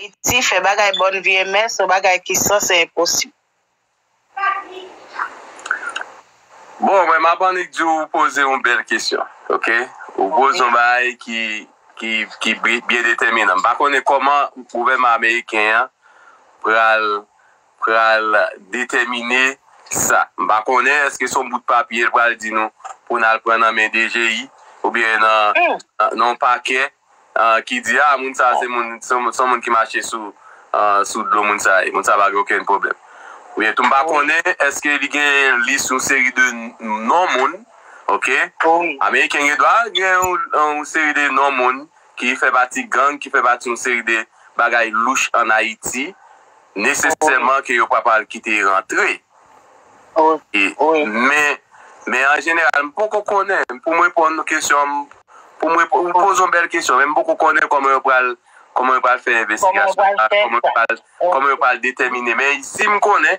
Ayiti fè bagay bon vye men son bagay ki san se enposib. Bon mwen map annik di ou poze yon bèl kesyon ok ou poze yon bagay ki ki byen detèminan m pa konnen kòman gouvènman ameriken an pral pral detèmine sa. M pa konnen èske se yon bout papye l pral di nou pou n al pran nan men DGI oubyen nan yon pakè ki di a moun sa se moun se yon moun ki mache sou dlo moun sa ye, moun sa pa gen okenn pwoblèm. Oubyen tou m pa konnen èske li gen yon lis yon seri de non moun, ok, ameriken gen dwa gen yon seri de non moun. ki fè pati gang, ki fè pati yon seri de bagay louch an Ayiti, nesesèman ke yo pa pral kite yo rantre. Men an jeneral, m poko konnen, pou m reponn nou kesyon an, pou m reponn, ou poze yon bèl kesyon, men m poko konnen kòman yo pral, kòman yo pral fè envestigasyon sa, kòman yo pral, kòman yo pral detèmine. Men isi m konnen,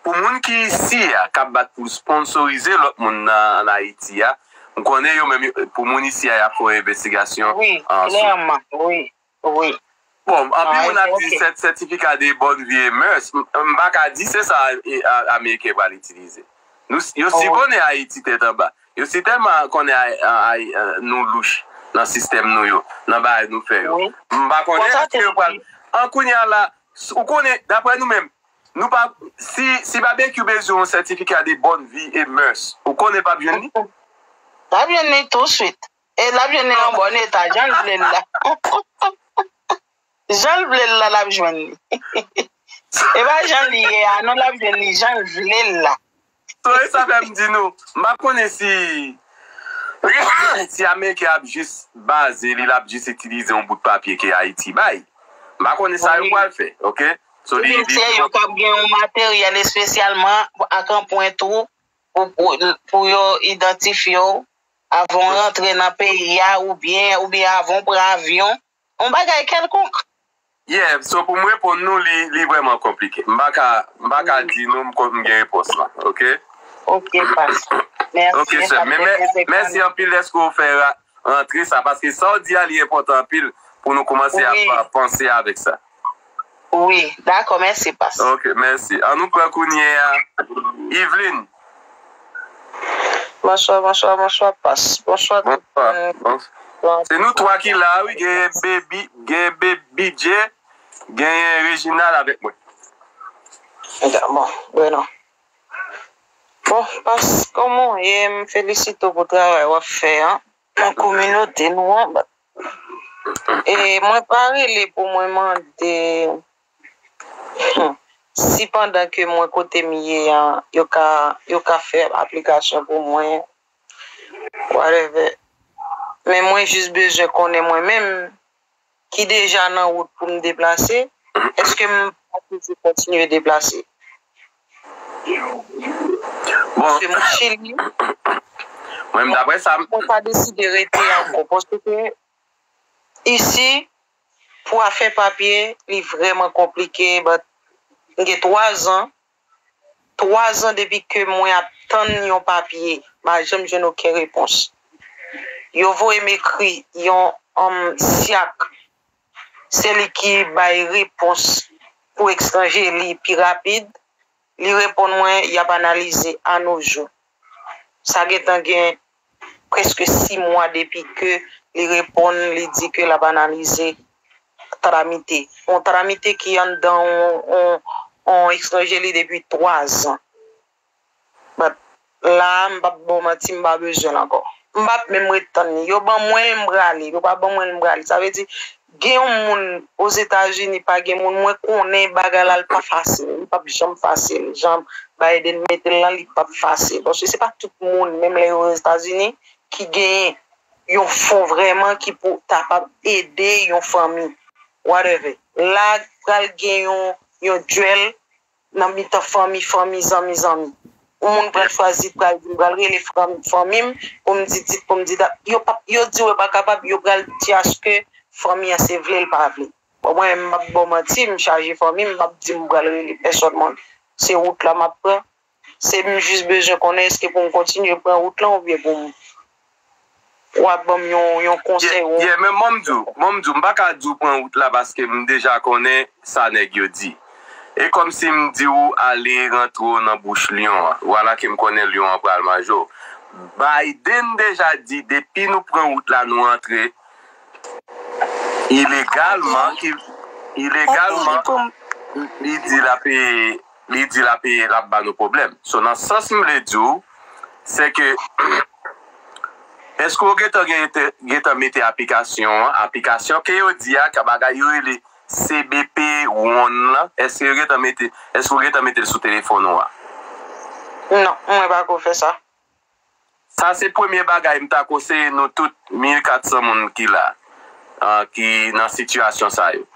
pou moun ki isi a, k ap bat pou sponsorize lòt moun an Ayiti a, M konnen yo menm pou moun isi a y ap fè yon envestigasyon sou. Wi, klèman, wi, wi. Bon, anpil moun ap di sètifika de bòn vi e mès, m pa ka di se sa ameriken pral itilize. Yo si konnen Ayiti tèt anba. Yo si tèlman konnen nou louch nan sistèm nou yo, nan bagay nou fè yo. M pa konnen eske yo pral. An kounye a la, ou konnen, daprè nou menm, Nou pa, si, si Babekyou bezwen yon sètifika de bòn vi e mèurs, ou konnen pap jwenn li? Lap jwenn li tou swit. E lap jwenn li an bòn eta, janl vle l la. Janl vle l la lap jwenn li. E pa jan li ye a non lap jwenn li janl vle l la. Sorry sa fèm di nou m pa konnen si si ameriken ap jis baze li lap jis itilize yon bout papye ke ayiti bay m pa konnen sa yo pwal fè ok so li li se yo kap gen yon materyèl espesyalman ak anpwent ou pou yo idantifye w avan w rantre nan peyi a oubyen oubyen avan w pran avyon Yon bagay kèlkonk. Yeah, so pou m reponn nou li li vrèman konplike. M pa ka m pa ka di nou m kon m gen repons lan ok. Ok past. Mèsi. Ok sèm. Men mè mèsi anpil dèske ou fè ra rantre sa paske sa w di a li enpòtan anpil pou nou koumanse ap panse avèk sa. Wi dakò mèsi pas. Ok mèsi an nou pran kounyea Yveline. Bonswa bonswa bonswa pas bonswa tout moun. Se nou 3 ki la wi genyen baby genyen bgy genyen reginal avèk mwen. Bon bueno bon pas komanw ye m felisitew pou travay wap fè an nan kominote nou an E mwen pa rele pou mwen mande si pandan ke mwen kote m ye an yo ka fè aplikasyon pou mwen whatever men mwen jis bezwen konnen mwen menm ki deja nan wout pou m deplase eske m pa toujou kontinye deplase. Misye moun chili. Mwen menm daprè sa. Mwen pa deside rete ankò paske isi pou afè papye li vrèman konplike but m gen 3 zan 3 zan depi ke mwen ap tann yon papye m pa janm jwenn oken repons yo voye m ekri yon syak se li ki bay repons pou etranje li pi rapid, li reponn mwen y ap analize anojou. Sa gentan gen prèske si mwa depi ke li reponn li di ke l ap analize tramite. Yon tramite ki anndan yon etranje li depi twazan. But la m pap baw manti m pa bezwen l ankò m pap menm ret tann li yo ban mwen l m prale yo pa ban mwen l m prale sa vle di gen yon moun ozetazini pa gen moun mwen konnen bagay la l pa fasil li pap janm fasil jan Biden mete l lan li pap fasil paske se pa tout moun menm lè yo ozetazini ki gen yon fon vrèman ki pou kapab ede yon fanmi whatever la pral gen yon yon duel nan mitan fanmi fanmi zanmi zanmi yon moun pral chwazi pral di m pral rele fanmi m pou m di dit pou m di dat yo pap yo di yo pa kapab yo pral di aske fanmi an se vle l pa vle bon mwen menm m pap ba w manti m chaje fanmi m pap di m pral rele pèsòn mwen se wout la m ap pran se m jis bezwen konnen èske pou m kontinye pran wout lan oubyen pou m Wa banm yon konsey ou. Yeah men banm diw, banm diw mpaka diw pran wout la paske mdeja konnen sa neg yo di. E komsi mdiw ale rantre w nan bouch lion an. Vwala ke mkonnen lion an pral manje w. Biden deja di depi nou pran wout la nou antre ilegalman, ilegalman li di lap li di lap e lap ba nou pwoblèm so nan sans m vle di w se ke eske w gentan gen gentan mete aplikasyon an aplikasyon ke yo di a ka bagay yo rele CBP one lan eske yo gentan mete eske w gentan mete l sou telefòn ou a. Non mwen pako fè sa. Sa se premye bagay m ta konseye nou tout 1400 moun ki la ki nan sitiyasyon sa yo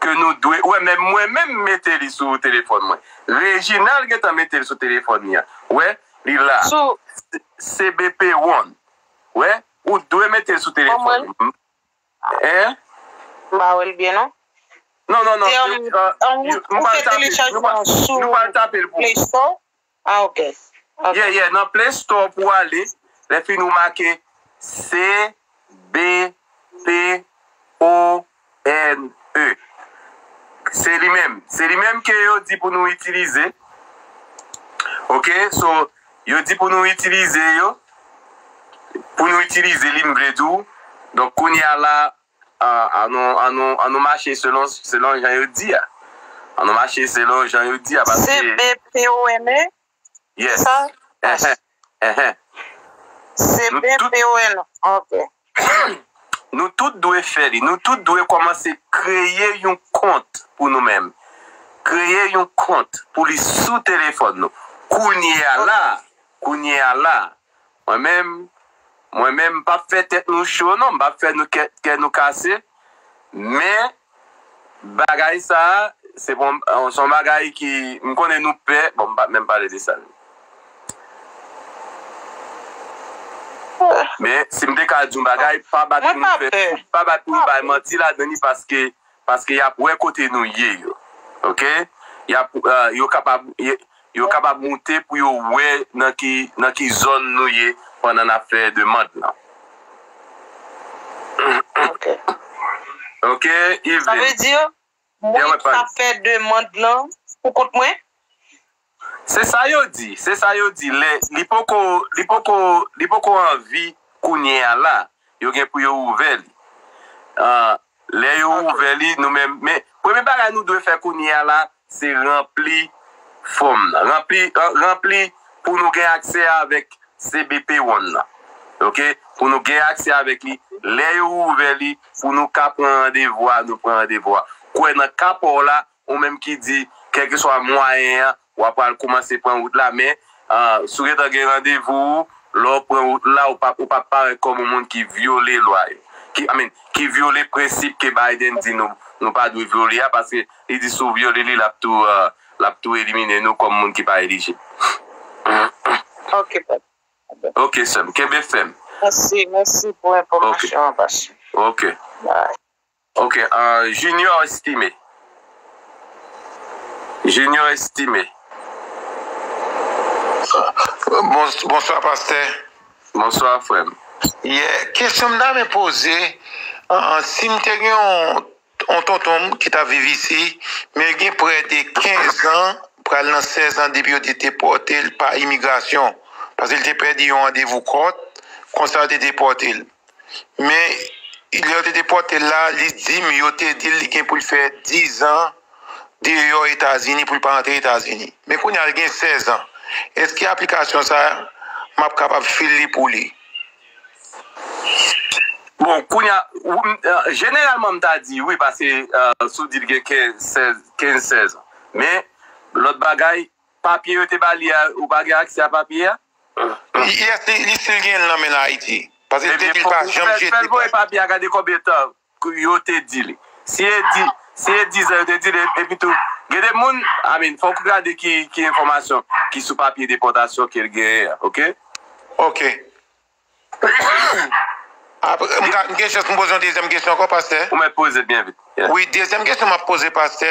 ke nou dwe wè menm mwen menm m mete li sou telefòn mwen Reginald gentan mete l sou telefòn li an wè li la sou cbp one wè ou t dwe mete l sou telefòn ou hein. M pa wè l byen non. Non non non. Se yon m pral tape l sou play store. August ok. Yeah yeah nan play store pou ale lè fini ou make CBPONE se li menm se li menm ke yo di pou nou itilize ok so yo di pou nou itilize yo pou nou itilize li m vle di w donk kounya la An nou mache selon jan yo di a. An nou mache selon jan yo di a paske. Se BPONE? Yes. Se sa? Yes. Enhen. Se BPONE. Ok. Nou tout dwe fè li. Nou tout dwe kòmanse kreye yon kont pou nou menm. Kreye yon kont pou li sou telefòn nou. Kounye a la a. Kounye a la a. Mwen menm, mwen menm m pap fè tèt nou cho non, m pap fè nou kè kè nou kase men bagay sa se bon se yon bagay ki m konnen nou pè bon m pap menm pale de sa men si m te ka di yon bagay pa bat pou nou fè pa bat pou nou bay manti ladan li paske Paske yap wè kote nou ye yo ok yap yo kapab yo kapab moute pou yo wè nan ki nan ki zòn nou ye pandan nap fè demand lan ok ok Yveline sa vle di mwen ki tap fè demand lan pou kont mwen Se sa yo di, se sa yo di lè li poko, li poko, li poko anvi kounye a la, yo gen pou yo ouvè li. An, lè yo ouvè li, nou menm, men, premye bagay nou dwe fè kounye a la, se ranpli fòm nan. Ranpli, ranpli pou nou gen aksè avèk CBP One nan. Ok, pou nou gen aksè avèk li, lè yo ouvè li, pou nou ka pran randevou a, nou pran randevou a. Kwè nan ka pa w la, Ou menm ki di, kèlkeswa mwayen an, w a pral koumanse pran wout la, men, si w gentan gen randevou ou, lè w pran wout la, ou p ap parèt kòm yon moun ki vyole lwa yo, ki, I mean, ki vyole prensip ke Biden di nou, nou pa dwe vyole a, paske li di si w vyole li, l ap tou, l ap tou elimine nou kòm moun ki pa elijib. Ok, papa. Ok, sè m. Kenbe fèm. Mèsi, mèsi pou enfòmasyon an, pastè. Ok. Bye. Ok junior estime junior estime. Bonswa pastè. Bonswa frèm. Yè kesyon m ta renmen poze si m te gen yon tonton m ki tap viv isi men li gen prè de 15 an pral nan 16 an depi yo te depòte l pa imigrasyon paske l te pèdi yon randevou kòt konsa yo te depòte l Men, lè yo te depòte l la, li di m, yo te di l li gen pou l fè dizan deyò Etazini pou l pa antre Etazini. Men kounye a li gen sèzan. Èske aplikasyon sa a, m ap kapab fil li pou li? Bon, kounye a, jeneralman m ta di wi pase si w di l gen kenz sèzan. Men, lòt bagay, Papye yo te ba li a ou pa gen aksè a papye a? Yes li sil gen l nan menl ayiti. Paske li te di li pa janm jete papye. Fèl voye papye a gade konbyen tan yo te di li. Si e di si e dizan yo te di li epitou gen de moun I mean fòk ou gade ki enfòmasyon ki sou papye depòtasyon kel genyen an ok. Ok Aprè m ka m gen chans m poze yon dezyèm kesyon ankò pastè? Ou mèt poze l byen vit. Wi, dezyèm kesyon m ap poze pastè,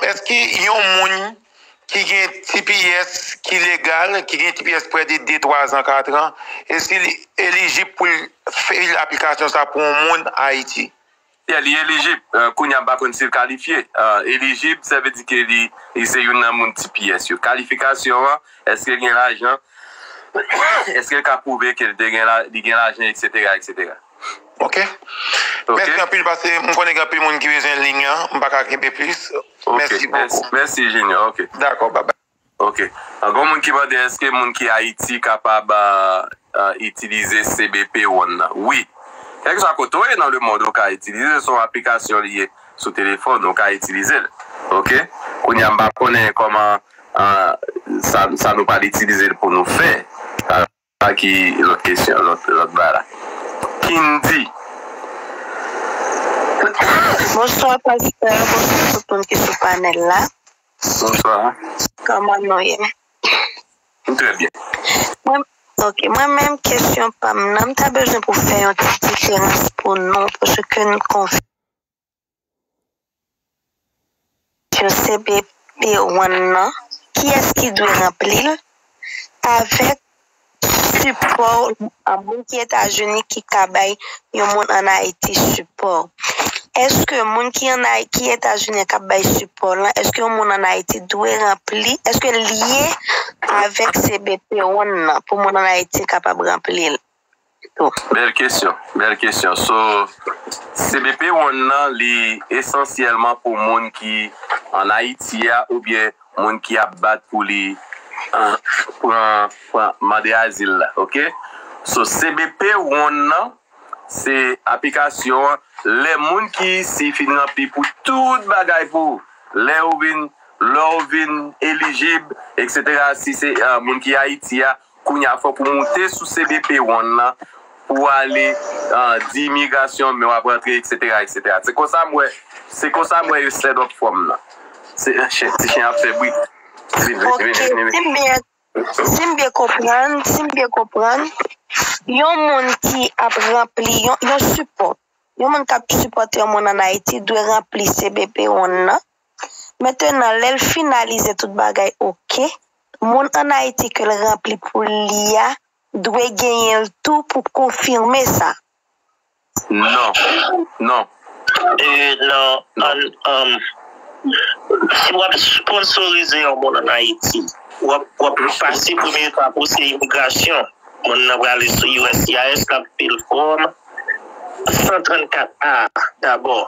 èske yon moun ki gen tps ki legal, ki gen tps prè de 2, 3 zan, 4 an, èske li elijib pou l fil aplikasyon sa pou yon moun Ayiti? Yeah li elijib kounya mpa konn sil kalifye elijib sa vle di ke li se youn nan moun tps yo kalifikasyon an eske gen lajan eskel ka pwouve ke li te gen li gen lajan etc etc. Ok mèsi anpil pase m konnen gen anpil moun ki bezwen lign lan m paka kenbe plis mèsi bokou. Mèsi Junior ok. Dakò bye bye. Ok ankò moun ki mande eske moun ki ayiti kapab itilize CBP one nan wi kèlkeswa kote ou ye nan lemond ou ka itilize son aplikasyon li ye sou telefòn ou ka itilizel ok kounya m pa konnen kòman sa nou pral itilizel pou nou fè. A ki lòt kesyon lòt ba la. Kindy. Bonswa pastè bonswa tout moun ki sou panèl la. Bonswa. Kòman nou ye. Nou trè byen. Mwen ok mwen menm kesyon pam nan m ta bezwen pou fè yon ti diferans pou nou paske nou konfime. CBP One nan, kiyès ki dwe ranpli l, avèk sipò moun ki Etazini ki ka bay yon moun ann Ayiti sipò? Èske moun ki ann Ayiti, ki Etazini an k ap bay sipò l lan, èske yon moun ann Ayiti dwe ranpli, èske l lye avèk CBP One nan pou moun ann Ayiti kapab ranpli l? tou. Bèl kesyon bèl kesyon so cbp one nan li esansyèlman pou moun ki an ayiti a oubyen moun ki ap bat pou li pran pran mande azil la ok so cbp one nan se aplikasyon an lè moun ki isi fin ranpli pou tout bagay pou lè ou vin lè ou vin elijib eksetera si se moun ki ayiti a Kounya fòk ou moute sou cbp one lan pou w ale di imigrasyon men wap rantre eksetera eksetera se konsa m wè se konsa m wè yo set up fòm lan ti chen ap fè bri ok si m byen konprann si m byen konprann yon moun ki ap ranpli yon sipò yon moun kap sipòte yon moun an ayiti dwe ranpli cbp one lan Mentenan lèl finalize tout bagay ok, moun an Ayiti kel ranpli pou li a dwe genyenl tou pou konfime sa. Non, non. Euh non, an an. Si wap sponsorize yon moun an Ayiti, wap wap pase premye etap ou se imigrasyon. Moun nan prale sou uscis lap fil fòm 134 A dabò.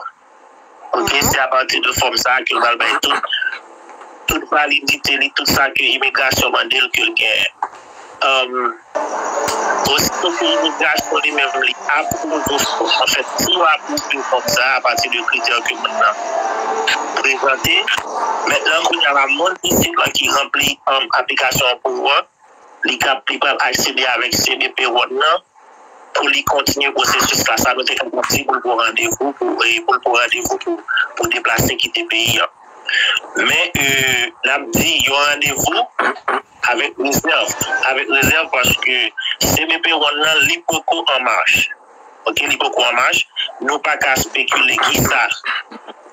Ok se apati de fòm sa ke l pral bay tout validite li tout sa ke imigrasyon mande l ke l genyen osito ke imigrasyon li menm li apwouve w fòm an fèt si yo apwouve w fòm sa apati de kritè ke moun nan prezante mètnan kounya la moun isit lan ki ranpli aplikasyon pou ou an Li kab, li pral aksede avèk CBP One nan pou li kontinye pwosesis la. Sa nou te fè pou di pou l pran randevou pou pou l pran randevou pou pou deplase kite peyi an. Men n ap di yon randevou avèk rezèv, avèk rezèv paske CBP One nan li poko an mach. Ok li poko an mach, nou pa ka spekile kisa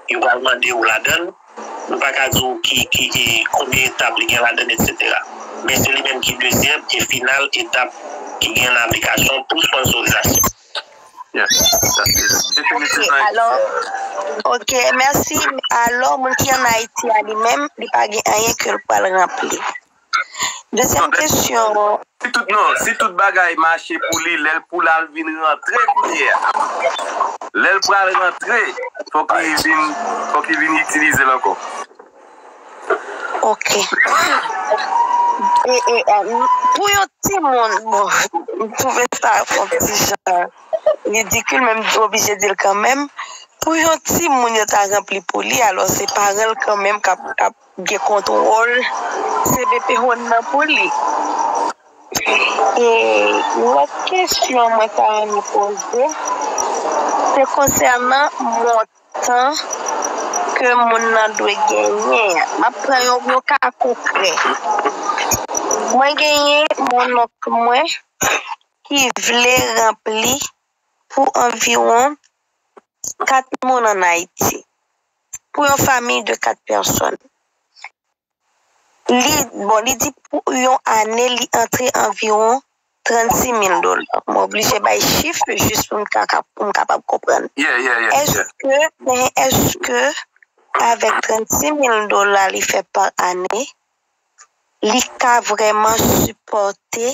yo pral mande yo ladann. Ou pa ka di w ki konbyen etap li gen ladann etsetera. Men se li menm ki dezyèm e final etap ki gen nan aplikasyon pou sponsorizasyon. Ok mèsi, alò moun ki an Ayiti a li menm li pa gen anyen ke l pral ranpli? Dezyèm kesyon. Si tout bagay mache pou li lè l pou l al vin rantre kounye a. Lè l pral rantre fòk li vin fòk li vin itilize l ankò. Ok. Pou yon timoun bon m twouve sa yon ti jan ridikil men m oblije di l kanmenm pou yon timoun yo ta ranpli pou li alò se paran l kanmenm k ap gen kontwol cbp hon nan pou li e lòt kesyon mwen ta renmen poze se konsènan montan ke moun nan dwe genyen an map pran yon ka konkrè mwen genyen yon onk mwen ki vle ranpli pou anviwon Pou 4 moun an Ayiti, pou yon famiy de 4 pèsòn, li, bon li di pou yon ane li antre anviwon 36 mil dola. Mwen oblije bay chif jis pou m ka, pou m kapab konprann. Èske, men èske avèk 36 mil dola li fè pa ane, li ka vrèman sipòte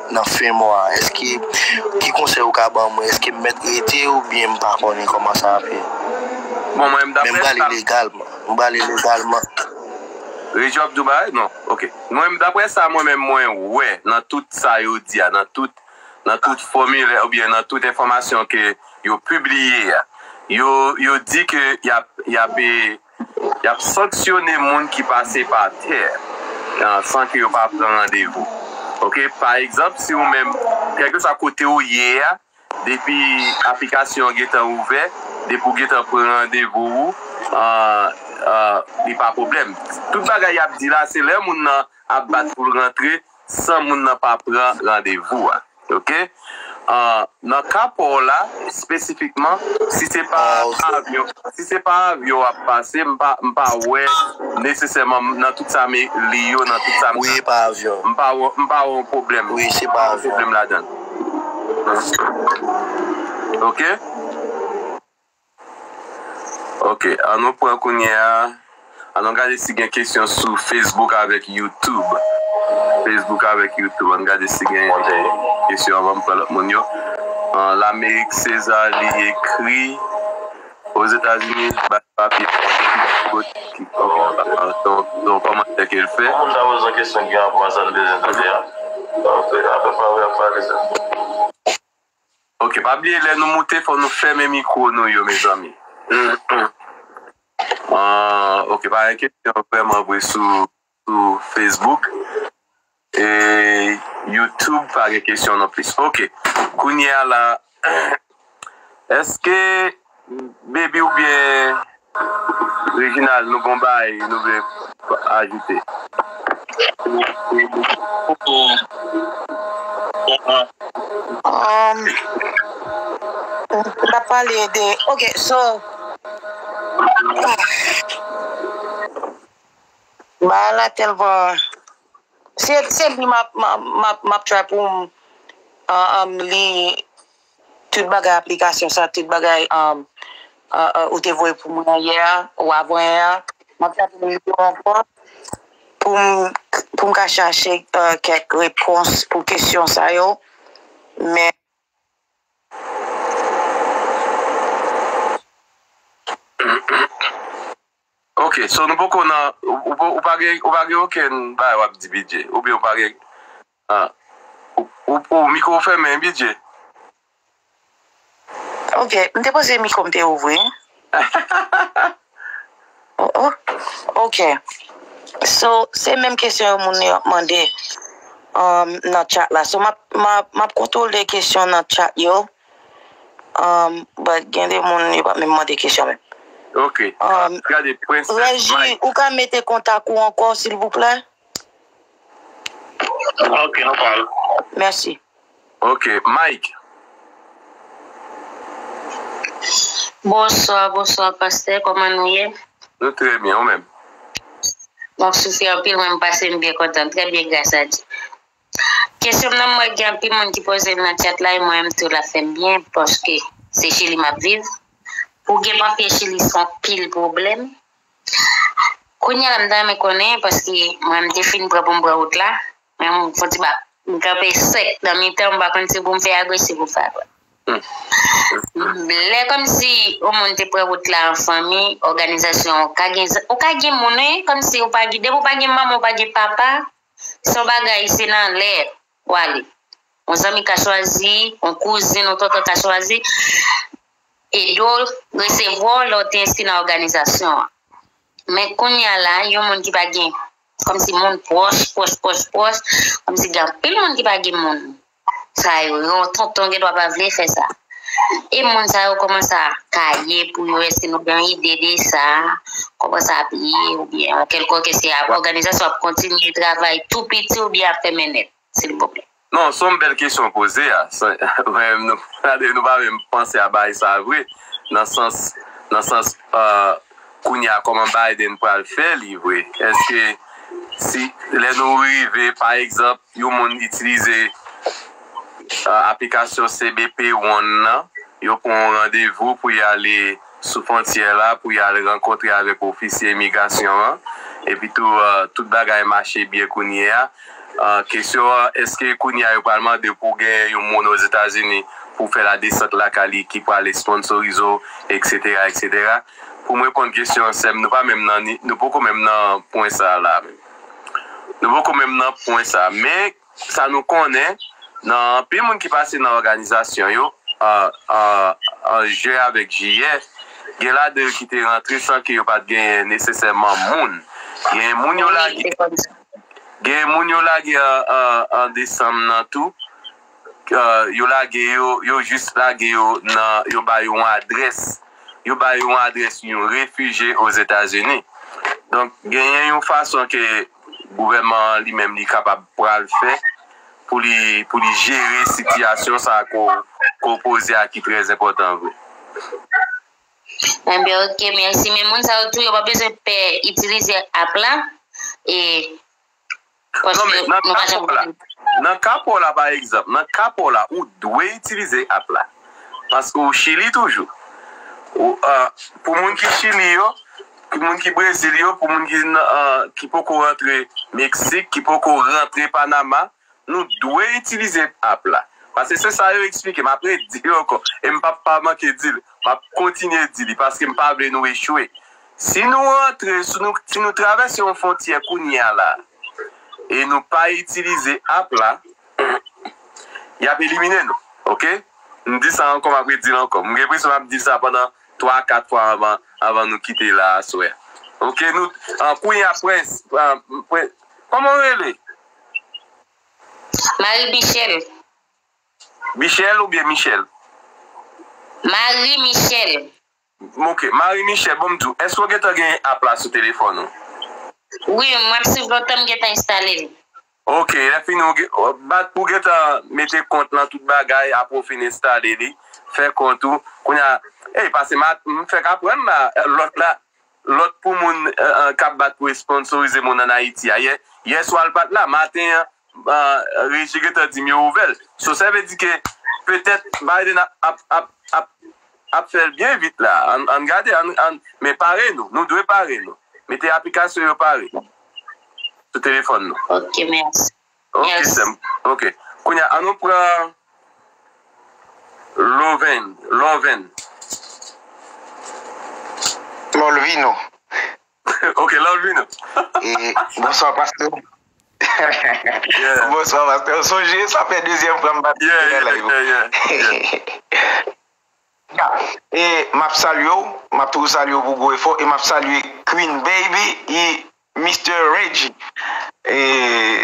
nan fen mwa eske ki konsèy ou ka ban mwen eske m mèt rete ou byen m pa konnen kòman sa ap ye bon mwen m dapre sa men m prale legalman m prale legalman. Regi wap di w bagay non ok mwen dapre sa mwen menm mwen wè nan tout sa yo di a nan tout nan tout fòmilè ou byen nan tout enfòmasyon ke yo pibliye a yo yo di ke yap yape Y ap sanksyone moun ki pase pa tè san ke yo pa pran randevou. Ok, pa egzanp, si ou menm, kèlkeswa kote ou ye a, depi aplikasyon an gen tan ouvè, depi ou gen tan pran randevou ou, li pa pwoblèm. Tout bagay y ap di la, se lè moun nan ap bat pou l rantre, San moun nan pa pran randevou a. Ok. Nan ka pa w la, espesifikman, si se pa avyon, si se pa avyon w ap pase, m pa, m pa wè nesesèman nan tout sa m li yo, nan tout sa m tande. Wi, e pa avyon. M pa wè, m pa wè yon pwoblèm. Wi, se pa avyon. M pa wè yon pwoblèm ladan l. Ok. Ok an nou pran kounye a an nou gade si gen kesyon sou Facebook avèk YouTube Facebook avèk YouTube an nou gade si gen kesyon anvan m pran lòt moun yo Lamerik Seza li ekri Ozetazini bay papye Son kòmantè ke l fè Pou moun ta poze yon kesyon ki gen rapò a sa n bezwen tande a Apre sa wè m pale sèlman. Ok pa bliye lè nou moute fò nou fèmen mikwo nou yo mezanmi Ahh ok pa gen kesyon vrèman vre sou Facebook e YouTube pa gen kesyon non plis ok kounyea la Eske Baby ou byen Reginald nou gon baay nou vle ajoute. Nap pale de ok so baay la telman se li map try poum li. Tout bagay aplikasyon sa tout bagay ou te voye pou mwen yè a ou avan yè a map tann li yo ankò poum ka chache kèk repons pou kesyon sa yo men ok so nou poko nan ou pa gen okenn bagay wap di bidjey oubyen ou pa gen. Ahh ou mikro w fèmen bidye. Ok m te panse mikro m te ouvri oh ok so se menm kesyon yo moun yo ap mande nan chat la so map kontwole kesyon nan chat yo but gen de moun yo pa menm mande kesyon menm ok Regi ou ka mete kontak ou ankò silvouplè. Ok nou pral. Merci. Ok Mike. Bonswa bonswa pastè kòman nou ye. Nou trè byen ou menm. Map soufri anpil mwen pasem byen kontan trè byen gras a Dye kesyonm nan mwen gen anpil moun ki pozel nan chat la e mwen tou lap fèm byen paske se chili map viv pou gen papye chili se anpil pwoblèm Kounya la m ta renmen konnen paske mwen m te fin pran pou m pran wout la men m fon ti bak m kanpe sèk nan mitan m pa konn si pou m fè agòch si pou m fè adwat. Lè kòmsi yon moun te pran wout la an fanmi, òganizasyon ou ka gen ou ka gen moun wi kòmsi ou pa gen depi ou pa gen manman ou pa gen papa se yon bagay se nan lè Ou ale. Yon zanmi ka chwazi, yon kouzin, yon tonton ka chwazi ede w resevwa w lè w te enskri nan òganizasyon an. Men kounye a la, yon moun ki pa gen kòmsi moun pwòch, pwòch, pwòch, pwòch, kòmsi gen anpil moun ki pa gen moun sa yo. Yon tonton gen dwa pa vle fè sa. E moun sa yo kòman sa ka ye pou yo èske nou gen yon ide de sa kòman sa ap ye ou byen an kèlkòk èske a òganizasyon ap kontinye travay tou piti ou byen ap fèmen nèt silvouplè. Non sonw bèl kesyon w poze a mwen nou gade nou pa menm panse a bagay sa vre nan sans nan sans kounya kòman Biden pral fè li vre èske si lè nou rive pa egzanp Yon moun itilize aplikasyon cbp One nan, yo pran yon randevou pou y ale sou fwontyè la pou y al rankontre avèk ofisye imigrasyon an. Epitou, tout bagay mache byen kounye a. Kesyon an, èske kounye a yo pral mande w pou w gen yon moun Ozetazini pou w fè ladesant lakay li ki pral esponsorize w, eksetera, eksetera. Pou m reponn kesyon an, sè m, nou pa menm nan ni, nou poko menm nan pwen sa a la a menm. Nou poko menm nan pwen sa a. Men, sa nou konnen, nan anpil moun ki pase nan òganizasyon yo an jen avèk jiyè, gen ladan yo ki te rantre san ke yo pa t genyen nesesèman moun. Gen moun yo lage an desanm nan tou. yo lage yo yo jis lage yo nan yo ba yo yon adrès yo ba yo yon adrès yon refije ozetazini donk genyen yon fason ke gouvèman an li menm li kapab pral fè pou li pou li jere sitiyasyon sa a ke w poze a ki trè enpòtan vre. Enben ok mèsi men moun sa yo tou yo pa bezwen pè itilize app la e. Paske nou pa janm konnen. Nan ka pa w la pa egzanp, nan ka pa w la ou dwe itilize app la. Paske w Chili toujou. Pou moun ki Chili yo, pou moun ki Brezil yo, pou moun ki poko rantre Meksik, ki poko rantre Panama, nou dwe itilize app la. Paske se sa yo eksplike m. Apre di yo ankò. E m pap pa manke di l. M ap kontinye di li. Paske m pa vle nou echwe. Si nou rantre, si nou travèse yon fontyè kounye a la e nou pa itilize app la, y ap elimine nou. Ok. M di sa ankò, m ap redi l ankò. M gen enpresyon m ap di l sa pandan 3 a 4 fwa anvan nou kite la aswè. Ok. Nou, kounye a Prince, kòman ou rele? Marie Michelle. Michelle oubyen Michel? Marie Michelle. M ok. Marie Michelle bon m di w eske w gentan gen app la sou telefòn ou? Wi m ap swiv lontan m gentan enstale l. Ok lè fini ou gen bat pou w gentan mete kont lan tout bagay apre w fin enstale li fè kont ou kounye a ey pase ma m fèk aprann la lòt la lòt pou moun kap bat pou esponsorize moun an Ayiti a yè yèswa l pat la maten an Reji gentan dim yo ouvel. So sa vle di ke petèt Biden ap fèl byen vit la. Ann gade men pare nou. Nou dwe pare nou. Mete aplikasyon yo pare sou telefòn nou. Ok mèsi. Ok sèm. Ok. Kounya an nou pran Loven. Lòlvin. Lòlvino. Ok love you nou. E bonswa pasteur. Yeah. Bonswa pasteur. Ou sonje sa fè dezyèm fwa m patisipe nan live ou. Yeah yeah yeah. Ya e map salye w, map toujou salye w pou gwo efò e map salye Queen Baby e Mister Regi e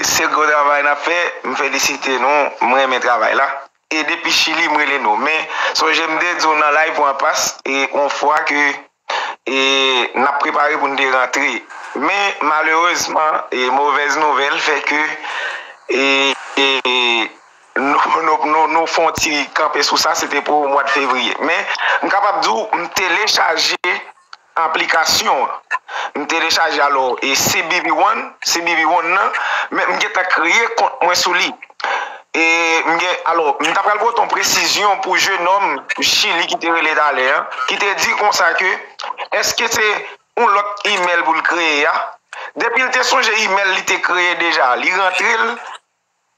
se gwo travay nap fè m felisite nou m renmen travay la. E depi chili m rele nou. Men sonje m te di w nan live ou an pas e on fwa ke e n ap prepare pou n te rantre. Men malerezman e movèz nouvèl fè ke e e nou nou fon ti kanpe sou sa se te pou mwa de fevriye. Men m kapab di w m telechaje. aplikasyon an m telechaje alò e cbp one cbp one nan men m gentan kreye kont mwen sou li e m gen alò m ta pral pote yon presizyon pou jenòm chili ki te rele talè an ki te di konsa ke eske se yon lòt imèl pou l kreye a depi l te sonje imèl li te kreye deja li rantre l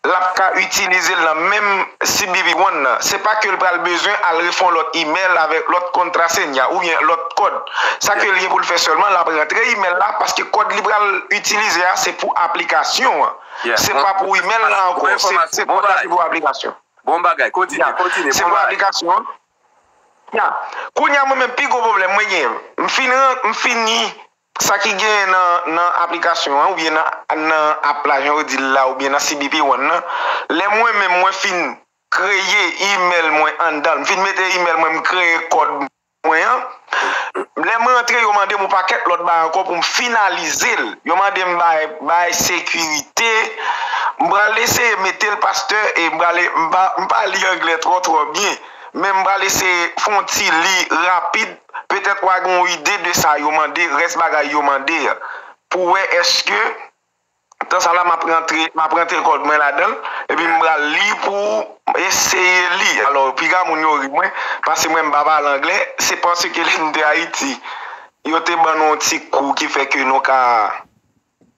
lap ka itilizel nan menm CBP One nan, se pa kel pral bezwen al refè yon lòt email avèk lòt contraseña oubyen lòt kòd, sa kel gen poul fè sèlman lap rantre email la paske kòd li pral itilize a se pou aplikasyon an se pa pou email la ankò se kòd la ki pou aplikasyon ya se pou aplikasyon an ya kounya mwen menm pi gwo pwoblèm mwen gen m fini Sa ki genyen nan aplikasyon an oubyen nan app la jan yo di l la oubyen nan CBP One nan, lè mwen menm mwen fin kreye email mwen anndan l, m fin mete email mwen, m kreye kòd mwen an, lè m rantre yo mande m yon pakèt lòt bagay ankò pou m finalize l, yo mande m bay sekirite, m pral eseye mete l pastè e m pral, m pa li anglè twò twò byen men m pral eseye fè yon ti li rapid Petèt wa gen yon ide de sa yo mande, rès bagay yo mande a. Pou wè eske tan sa la map rantre, map rantre kòd mwen ladanl, epi m pral li pou ou, eseye li. Alò, piga moun yo ri mwen, pase mwen m pa pale anglè, se paske lè m te Ayiti, yo te ban nou yon ti kou ki fè ke nou ka.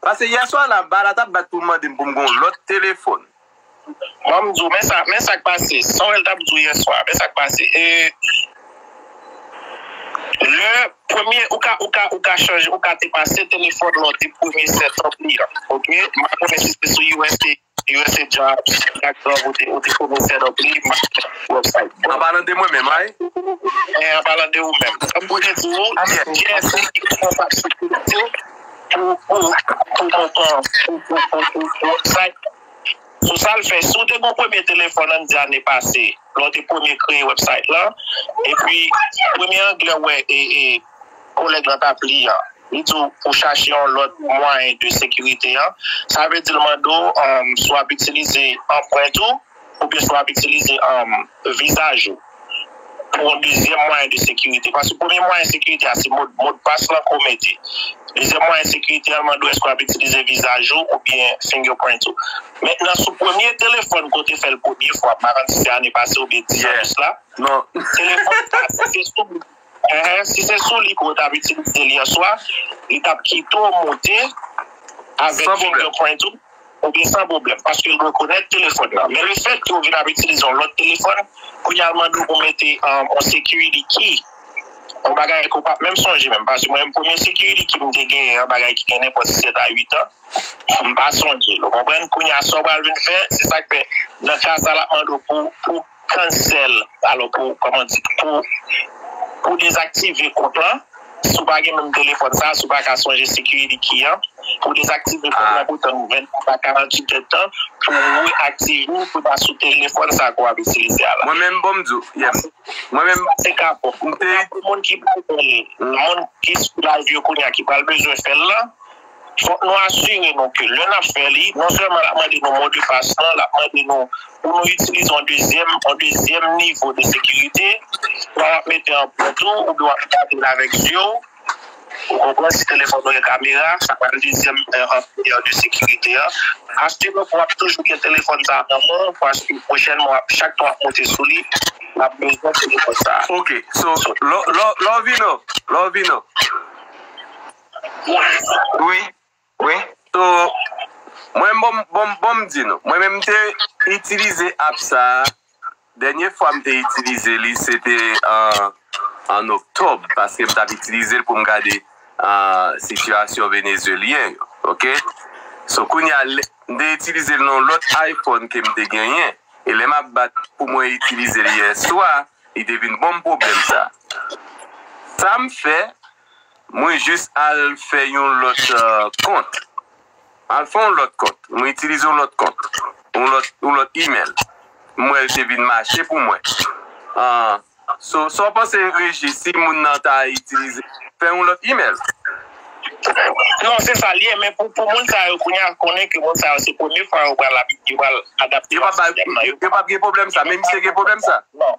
Pase yè swa la ba la tap bat pou mande m pou m gen yon lòt telefòn. Ban m di w men sa, men sa k pase. Samuel tap di w yè swa, men sa k pase. E lè premye ou ka, ou ka, ou ka chanje, ou ka te pase telefòn lan de premye sèt an li an. Ok, m pa konnen si se sou usa. Usa jobs ak job ou te ou te konesè nan peyi m website bon. Anpalan de mwen menm ay. Eh anpalan de ou menm. Kòm mwen te di ou se GSD ki responsab sekirite pou pou pou montan pou pou pou pou pou website sou sa l fè. Si w te gon premye telefòn an n di ane pase lè w te premye kreye website lan epi premye anglè w wè e e Kolèg lan t ap li an, li di w pou w chache yon lòt mwayen de sekirite an, sa vle di l mande w si w ap itilize anprent ou oubyen si w ap itilize vizaj ou pou yon dezyèm mwayen de sekirite. Paske premye mwayen sekirite a se modpas lan ke w mete. Dezyèm mwayen sekirite a mande w èske w ap itilize vizaj ou oubyen fingerprint ou. Mentnan sou premye telefòn ke w te fè l premye fwa, m pa konn si se ane pase oubyen 10 an de sla, telefòn sa se sou. Ehe si se sou li ke w tap itilize l yèswa li tap kite w monte avèk finger print ou ou byen san pwoblèm paske l rekonèt telefòn nan men le fèt ke w vin ap itilize yon lòt telefòn kounye a l mande w pou w mete yon security key yon bagay ke w pap menm sonje menm paske mwen menm premye security key m te genyen yon bagay ki gen nenpòt 7 a 8 an m pa sonje l ou konprann kounye a sa w pral vin fè se sa k fè nan ka sa l ap mande w pou w Cancel, Alò pou, kòman di, pou pou dezaktive kont lan, si w pa gen menm telefòn sa a, si w pa ka sonje security key an, pou w dezaktive kont lan pou w tann 24 a 48 èd tan pou w reaktive l pou l ta sou telefòn sa a ke w ap itilize a la. Mwen menm bon m di w, yes. Mwen menm, Sa se ka bon. m te. Pou moun ki pral, moun ki sou live yo kounya ki pral bezwen fè l lan, Fòk nou asire nou ke lè n ap fè li, non sèlman l ap mande nou mo de pas lan, l ap mande nou pou nou itilize yon dezyèm, yon dezyèm nivo de sekirite, swa w ap mete an pant ou, oubyen w ap gade l avèk zye w, ou konprann, si telefòn ou gen kamera, sa pral dezyèm nivo de sekirite a. Asire w ke w ap toujou gen telefòn sa a nan men w, paske pwochènman w ap, chak tan w ap monte sou li, w ap bezwen telefòn sa a. Ok, so, lè w vin an, lè w vin an. Wi, wi. So, mwen menm, bon m di nou, mwen menm m te itilize app sa a, dènye fwa m te itilize li se te an oktòb paske m t ap itilize l pou m gade sitiyasyon venezyelyen yo, ok. So, kounye a, m te itilize l nan yon lòt iPhone ke m te genyen e lè m ap bat pou mwen itilize l yèswa, li te vin ban m pwoblèm sa a. Sa m fè. Mwen jis al fè yon lòt kont. M al fè yon lòt kont. Mwen itilize yon lòt kont. Yon lòt email. M wè l te vin mache pou mwen. So, sa w panse Regi, si moun nan ta itilize, fè yon lòt email? Non, se sa l ye. Men pou moun sa yo kounye a konnen ke moun sa yo se premye fwa yo pral adapte nan sistèm nan. Yo p ap gen pwoblèm sa. Men misye gen pwoblèm sa? Non.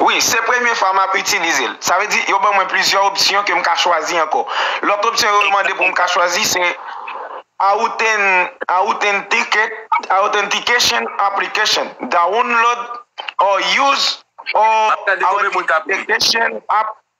Wi, se premye fwa m ap itilize l. Sa vle di, yo ban mwen plizyè opsyon ke m ka chwazi ankò. Lòt opsyon yo mande pou m ka chwazi se Authentication Application, Download or Use Authentication App.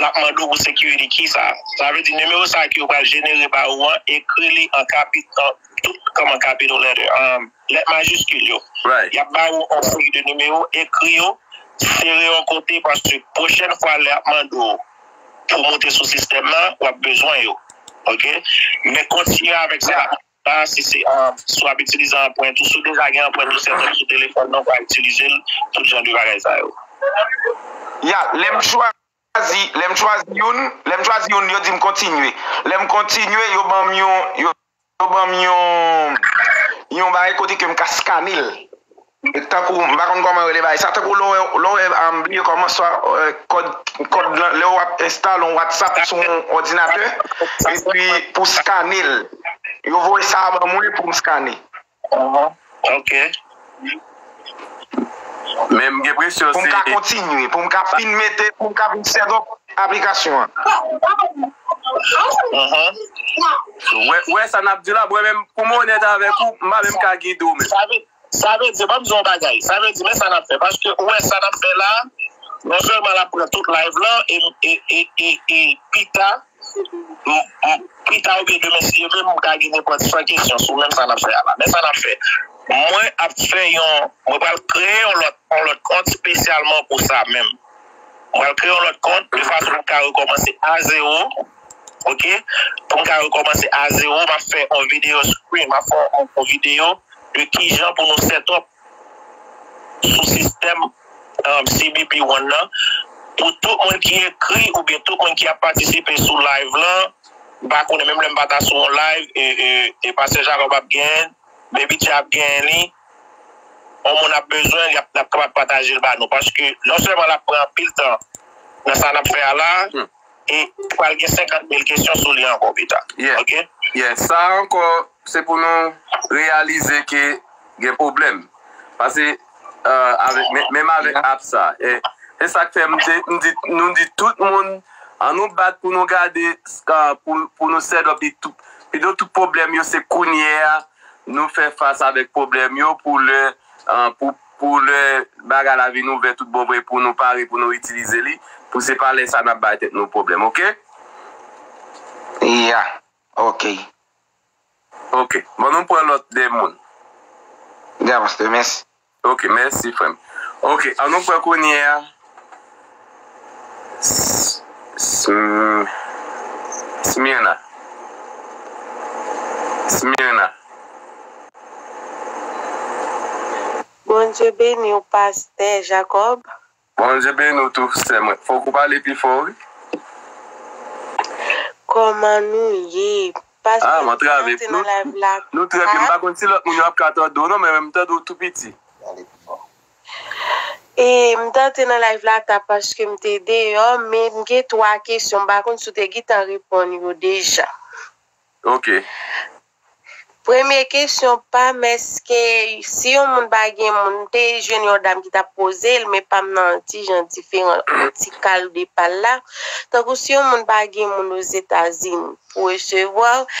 Lap mande w pou security kisa sa vle di nimewo sa ki yo pral jenere ba ou an ekri li an kapital tout kòman capital letter an lèt majiskil yo yap ba ou on seri de nimewo ekri yo sere yon kote paske pwochèn fwa lè yap mande w pou moute sou sistèm nan wap bezwen yo ok men kontinye avèk sa. Sa a si se an, si w ap itilize anprent ou, si w deja gen anprent ou sèten sou telefòn nan, w ka itilize l, tout jan de bagay sa yo. Ya, lè m chwazi, lè m chwazi youn, lè m chwazi youn yo di m kontinye. Lè m kontinye yo ban m yon, yo ban m yon, yon bagay kote ke m ka skane l. Tankou m pa konn kòman yo rele bagay sa tankou lè w wè m bliye kòman swa kòd lan lè wap enstale yon whatsapp sou yon òdinatè epi pou skane l yo voye sa ban mwen pou m skane pou m ka kontinye pou m ka fin mete pou m ka fin setup aplikasyon an Wè sa nap di la mwen menm pou m onèt avèk ou m pa menm ka gide w menm Sa vle di, banm di w yon bagay, sa vle di men sa nap fè paske ou wè sa nap fè la non sèlman lap pran tout live lan e pita pita oubyen demen si yo vle m ka gen nenpòt 100 kesyon sou menm sa nap fè a la men sa nap fè mwen ap fè yon mwen pral kreye yon lòt yon lòt kont spesyalman pou sa menm mwen pral kreye yon lòt kont de fason pou m ka rekòmanse a zewo. ok pou m ka rekomanse a zero map fè yon video screen map fè yon video de kijan pou nou setup sou sistèm CBP one nan pou tout moun ki ekri oubyen tout moun ki ap patisipe sou live lan m pa konnen menm lè m pa ta sou yon live e pastè Jacob ap gen Baby Tjay ap gen li yon moun ap bezwen li ap kapab pataje l ba nou paske non sèlman lap pran anpil tan nan sa nap fè a la. e pral gen 50 mil kesyon sou li ankò pita ok. Yè sa ankò se pou nou reyalize ke gen pwoblèm pase menm avèk app sa e se sak fè nou di tout moun an nou bat pou nou gade pou nou sèt up pito tout pwoblèm yo se kounyè a nou fè fas avèk pwoblèm yo pou lè pou Pou lè bagay la vin ouvè tout bon vre pou nou pare pou nou itilize li, pou se pa lè sa nap bay tèt nou pwoblèm ok. Yeah ok. Ok bon nou pran lòt 2 moun. Yeah pasteur mèsi. Ok mèsi frèm. Ok an nou pran kounyea. Smyrna Smyrna. Bondye beniw pastè Jacob. Bondye beni w tou sè mwen. Fok ou pale pi fò wi. Koman nou ye. Pastè mwen antre nan live la. Nou trè byen m pa konn si lòt moun yo ap ka tande w non men mwen m tande w tou piti. M t antre nan live la ta paske m te deyò men m gen 3 kesyon m pa konn si w te gentan reponn yo deja. Ok. Premye kesyon pam eske si yon moun pa gen moun m te jwenn yon dam ki t ap poze l men pam nan ti jan diferan yon ti kal de pal la tankou si yon moun pa gen moun ozetazini pou resevwa w.